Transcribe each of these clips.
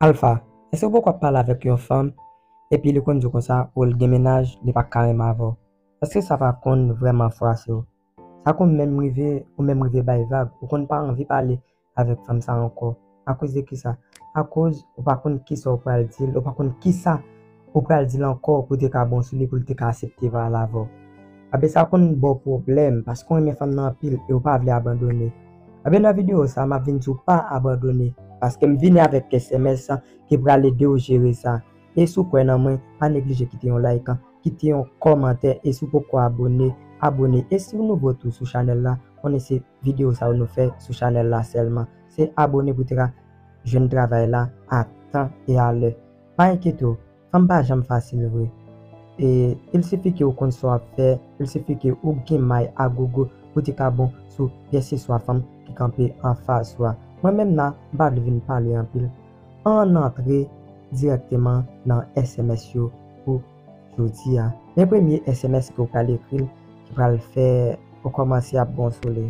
Alpha, èske ou poko ap pale avèk yon fanm epi li konn di w konsa pou l gen mennaj li pa ka renmen avè w? Èske sa pa konn vrèman fwase w? Sa konn menm rive ou menm rive bay vag, ou konn pa anvi pale avèk fanm sa ankò. Akoz de kisa? Akoz ou pa konn kisa w pral di l, ou pa konn kisa. Ou pral dil ankò pou te ka bon sou li poul te ka asepte vwayal avèw. Abe sa konn baw pwoblèm paske ou renmen fanm nan anpil e ou pa vle abandone. Abe nan video sa map vin diw pa abandone paskem vini avèk kè sms ki pral edew jere sa. E si w kwè nan mwen pa neglije kite yon like, kite yon kòmantè e si w poko abone, abone e siw nouvo tou sou chanèl la konnen se video sa yo nou fè sou chanèl la sèlman. Se abone pou te ka jwenn travay la a tan e a lè. Pa enkyete w, fanm pa janm fasil vre. E, il sifi ke ou konn sa w ap fè, il sifi ke ou gen may a gogo pou te ka bon sou kèseswa fanm ki kanpe anfas ou a. Mwen menm la, m pa vle vin pale anpil. Ann antre dirèkteman nan sms yo pou jodi a. Men premye sms ke ou pral ekri l ki pral fè ou kòmanse ap bon sou li.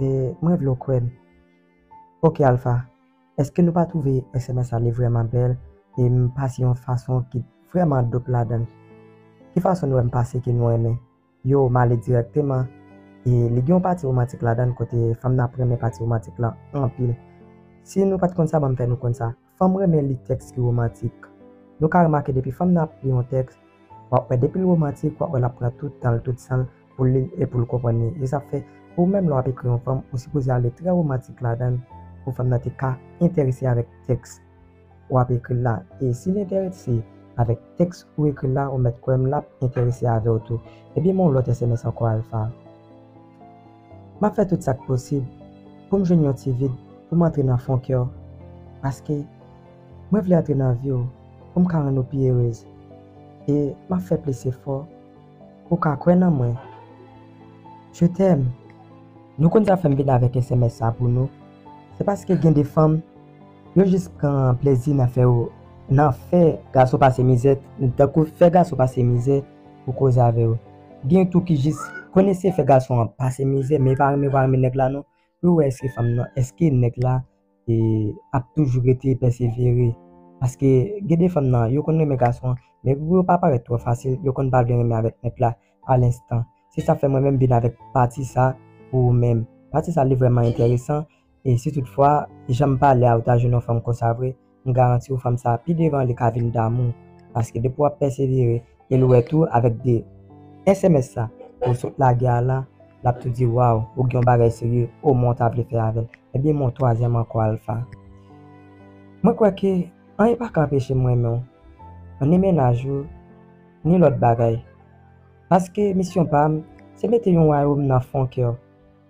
E mwen vle w kwè m. Ok Alpha, eske nou pa twouve sms la li vrèman bèl e m pase yon fason ki vrèman dope ladan l? Ki fason nou wè m pase ke nou renmen? Yow m ale dirèkteman e li gen yon pati romantik ladan l kote fanm nan ap renmen pati romantik lan anpil. Si nou pa t konn sa ban m fè nou konn sa. Fanm renmen li tèks ki womantik. Nou ka remake depi fanm nan ap li yon tèks, w ap wè depi l womantik, w ap wè l ap pran tout tan l, tout san l pou l li l e pou l konprann li. E sa fè, ou menm lè w ap ekri yon fanm, ou sipoze ale trè womantik ladan l pou fanm nan te ka enterese avèk tèks w ap ekri la. E si l enterese avèk tèks ou ekri la, ou mèt kwè m l ap enterese avè w tou. Ebyen men yon lòt sms ankò Alpha. M ap fè tout sa k posib pou m jwenn yon ti vid pou m antre nan fon kè w, paske mwen vle antre nan vi w pou m ka rann ou pi erez, e m ap fè plis efò pou w ka kwè nan mwen Je t'aime. Nou konn sa fè m vin avèk sms sa pou nou, se paske gen de fanm yo jis pran plezi nan fè yo nan fè gason pase mizè tankou fè gason pase mizè. Pou koze avew. Gen tou ki jis konn eseye fè gason an pase mizè men yo pa renmen vwa renmen nèg la non pou yo wè eske fanm nan eske nèg la ap toujou rete pèsevere paske gen de fanm nan yo konn renmen gason an men pou yo pa parèt twò fasil yo konn pa vle renmen avèk nèg la a lenstan se sa fè mwen menm vin avèk pati sa pou ou menm pati sa li vrèman enteresan. E si tout fwa, jan m pale a ou ta jwenn yon fanm konsa vre, m garanti ou fanm sa pi devan li ka vin damou w. Paske depi w ap pèsevere e l wè tou avèk 2 sms sa ou sot lage a la, l ap tou di waw ou gen yon bagay serye o mwen w ta vle fè avè l. Ebyen men yon twazyèm ankò Alpha. Mwen kwè ke anyen pa ka anpeche m renmen w, ni mennaj ou, ni lòt bagay. Paske misyon pa m se mete yon wayom nan fon kè w.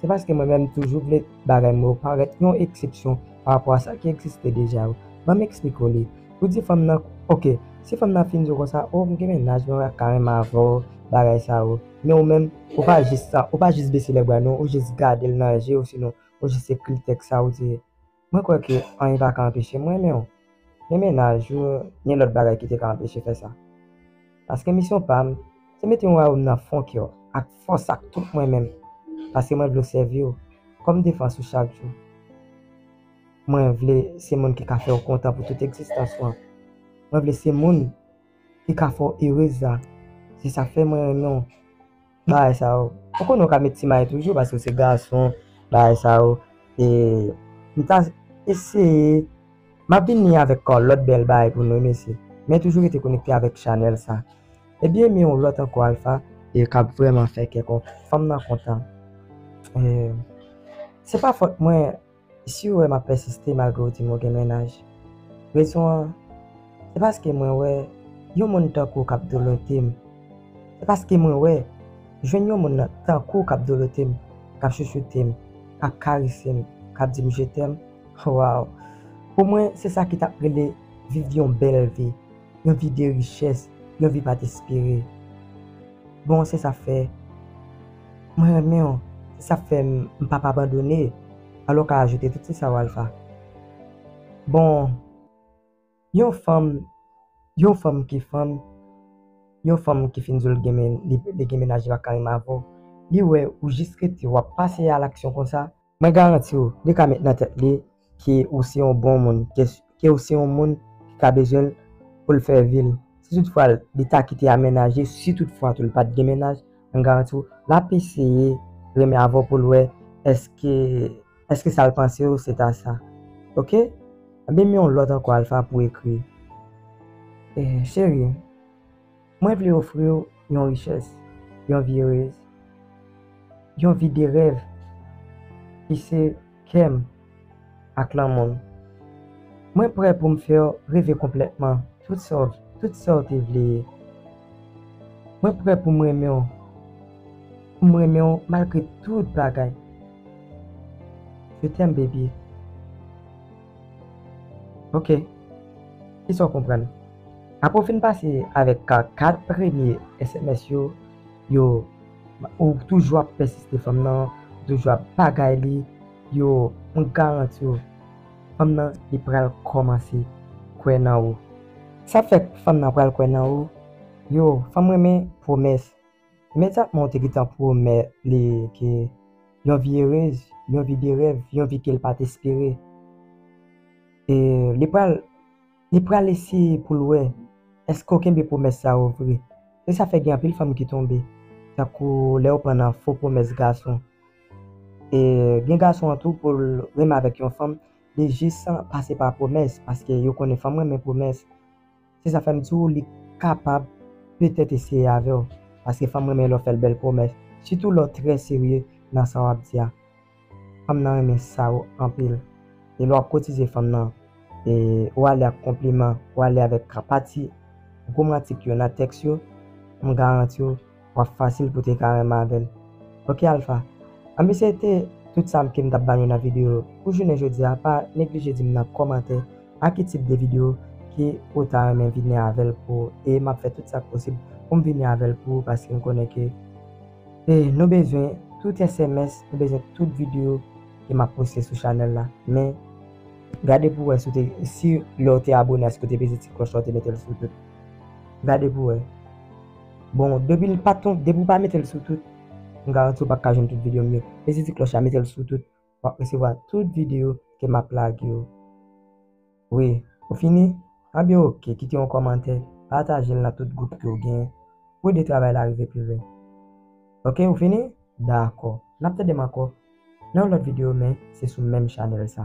Se paske mwen menm toujou vle bagay mwen yo parèt yon eksepsyon pa rapò a sa ki egziste deja yo. Ban m eksplike w li. Ou di fanm nan, ok, si fanm nan fin di w konsa, oh m gen mennaj mwen ta renmen avè w, bagay sa yo. Men ou menm, ou pa jis sa, ou pa jis bese lèbra non, ou jis gade l nan je osinon ou jis ekri tèks sa ou di. Mwen kwè ke anyen pa ka anpeche m renmen w, ni mennaj ou, ni lòt bagay ki te ka anpeche fè sa. Paske misyon pa m, se mete yon wayòm nan fon kè w, ak fòs ak tout mwen menm, paske mwen vle w sèvi w, kòm defans ou chak jou. Mwen vle se moun ki ka fè w kontan pou tout egzistans ou an. Mwen vle se moun ki ka fè w erez la. Se sa k fè mwen renmen w. Bagay sa yo, ou konnen ou ka met ti may toujou paske ou se gason, bagay sa yo. E, m ta eseye, m ap vini avèk kò lòt bèl bagay pou nou mesye. Men toujou rete konekte avèk chanèl sa. E byen men yon lòt ankò Alpha. E k ap vrèman fè kè kò fanm nan kontan. E, se pa fòt mwen. Si ou wè m ap pèsiste malgre ou di m ou gen mennaj, rezon an se paske mwen wè yon moun tankou w k ap dolote m, se paske mwen wè jwenn yon moun nan tankou w k ap dolote m, k ap chouchoute m, k ap karese m, k ap di m je t'aime, waww, pou mwen se sa ki t ap rele viv yon bèl vi. yon vi de richès, yon vi pa t espere. Bon, se sa k fè mwen renmen w, se sa k fè m pa p abandone. Alò w ka ajoute tout se sa w Alpha. Bon, yon fanm, yon fanm ki fanm, yon fanm ki fin di w l gen, li gen menaj li pa t ka renmen avè w, li wè ou jis rete w ap pase a laksyon konsa. Mwen garanti w li ka met nan tèt li ke ou se yon bon moun, ke ou se yon moun ki ka bezwen l pou l fè vi l. Si tout fwa li ta kite a menaje, si tout fwa tou li pat gen menaj, mwen garanti w lap eseye renmen avè w pou l wè eske eske sa l panse yo se ta sa. Ok? Ebyen m yon lòt ankò Alpha pou ekri. Cheri. Mwen vle ofri w yon richès, yon vi erez, yon vi de rèv ki se kè m ak lanmou m. Mwen prè pou m fè w reve konplètman tout sa w tout sa w te vle ye. Mwen prè pou m renmen w pou m renmen w malgre tout bagay. Je t'aime baby. Ok, kisa w konprann? Apre w fin pase avèk 4 premye sms yo, yo, ou toujou ap pèsiste fanm nan, ou toujou ap pagay li, yo, mwen garanti w, fanm nan li pral kòmanse kwè nan ou. Sa ap fè fanm nan pral kwè nan ou, yo, fanm renmen pwomès. Imedyatman ou te gentan pwomèt li ke yon vi erez, yon vi de rèv, yon vi ke l pa t espere, e li pral. Li pral eseye pou l wè èske w kenbe pwomès sa yo vre. Se sa fè gen anpil fanm ki tonbe, tankou lè yo pran nan fo pwomès gason. E gen gason an tou pou l renmen avèk yon fanm, li jis pase pa pwomès paske yo konnen fanm renmen pwomès. Se sa fè m di w li kapab petèt eseye avè w paske fanm renmen lè w fè l bèl pwomès, sitou lè w trè serye nan sa w ap di a. Fanm nan renmen Saw anpil e lè wap kotize fanm nan e ou ale ak konpliman ou ale avèk krapati gwo mantik yo nan tèks yo m garantiw wap fasil pou te ka renmen avèl ok Alpha anben se te tout sam kem tap banou nan video pou jounen jodia pa neglije dim nan kòmantè a ki tip de video ki ou ta renmen vini avèl pou e map fè tout sak posib poum vini avèl pou ou paskem konnen ke E nou bezwen tout sms, nou bezwen tout video ke map poste sou chanèl la. Men, gade pou wè si w te, si lè w te abone a si w te peze ti klòch la w te mete l sou tout. Gade pou wè. Bon, depi l pa ton, depi w pa mete l sou tout, m garanti w pap ka jwenn tout video m yo. Peze ti klòch la, mete l sou tout. wap resevwa tout video ke map lage yo wi ou fini anbyen ok kite yon kòmantè patajel nan tout gwoup ke ou gen pou ede travay la rive pi lwen ok ou fini dakò nap tandem ankò nan yon lòt video men se sou menm chanèl sa.